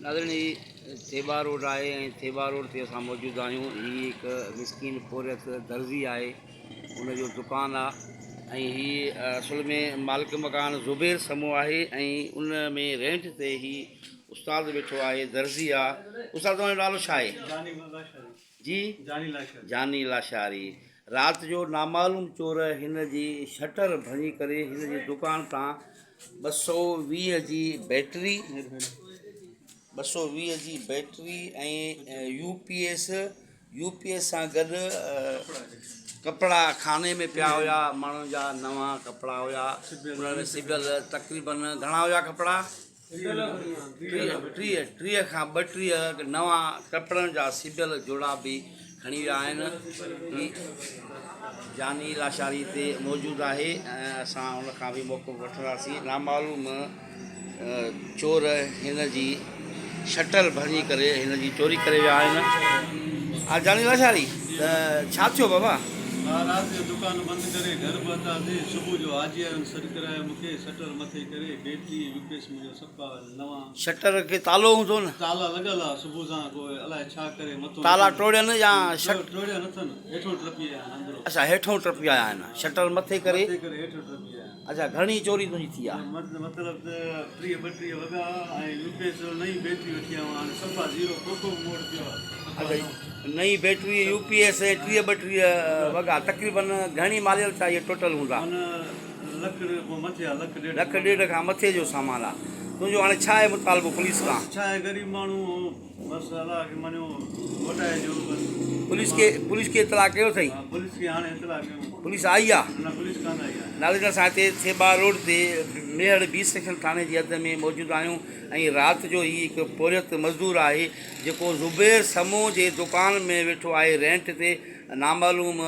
ناظرين هي ٿيٻا روڊ آهي ۽ ٿيٻا روڊ تي اسان موجود آهيون هي هڪ مسڪين پورهيت درزي آهي ان جو دڪان آهي ۽ هي اصل ۾ مالڪ مڪان زبير سمو آهي ۽ ان ۾ رينٽ تي هي استاد ويٺو آهي درزي آهي استاد تنهنجو نالو ڇا آهي جي جاني لاشاري رات جو نامعلوم چور هن جي شٽر ڀڃي ڪري هن جي دڪان تان ٻه سؤ ويهه جي بيٽري ٻه سؤ ويهه جي battery ۽ U P S U P S سان گڏ ڪپڙا کاني ۾ پيا هيا ماڻهن جا نوان ڪپڙا هيا سبيل تقريبن گهڻا هيا ڪپڙا ٽيهه ٽيهه کان ٻٽيهه نوان ڪپڙن جا سبيل جوڙا به کڻي ويا آهن هي جاني لاشاري تي موجود آهي ۽ اسان ان کان به موقعو وٺنداسين نامعلوم چور هن جي شٽل ڀڃي ڪري هن جي چوري ڪري ويا آهن ها جاني لاشاري ته ڇا ٿيو بابا رات جو دڪان بند ڪري گهر پهتاسين صبح جو حاجي آيو سڏ ڪرايو مون کي شٽر کي تالو هوندو نه. تالا ٽوڙين يا اچا هيٺون ٽپي آيا آهن شٽر مٿي ڪري اچا گهڻي چوري تنهنجي ٿي آ. نئين بيٽري يو پي ايس ٽيهه ٻٽيهه وڳا تقريبن گهڻي ماليل ڇا اهي ٽوٽل هوندا. لک ڏيڍ کان مٿي آ. لک ڏيڍ. لک ڏيڍ کان مٿي جو سامان آ. تنهنجو هاڻي ڇا آهي مطالبو پوليس کان؟ ڇا آهي غريب ماڻهو هو بس الله کي مڃيو موٽائي ڏيو بس. پوليس کي پوليس کي اطلاع ڪيو اٿئي؟ ها پوليس کي هاڻي اطلاع ڪيون. پوليس آئي آ؟ نه پوليس ڪانه آئي آ. ناليندر اسان هتي ٿيٻا روڊ تي ميهڙ بي سيڪشن ٿاڻي جي حد ۾ موجود آهيون ۽ رات جو هي هڪ پورهيت مزدور آهي جيڪو زبير سمون جي دوڪان ۾ ويٺو آهي رينٽ تي نامعلوم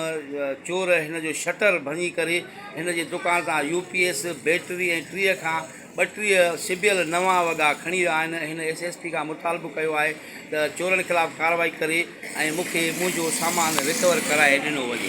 چور هن جو شٽر ڀڃي ڪري هن جي دڪان تان يو پي ايس، بيٽري ۽ ٽيهه کان ٻٽيهه سبيل نوان وڳا کڻي ويا آهن، هن ايس ايس پي کان مطالبو ڪيو آهي ته چورن خلاف ڪارروائي ڪري ۽ مون کي منهنجو سامان رڪور ڪرائي ڏنو وڃي.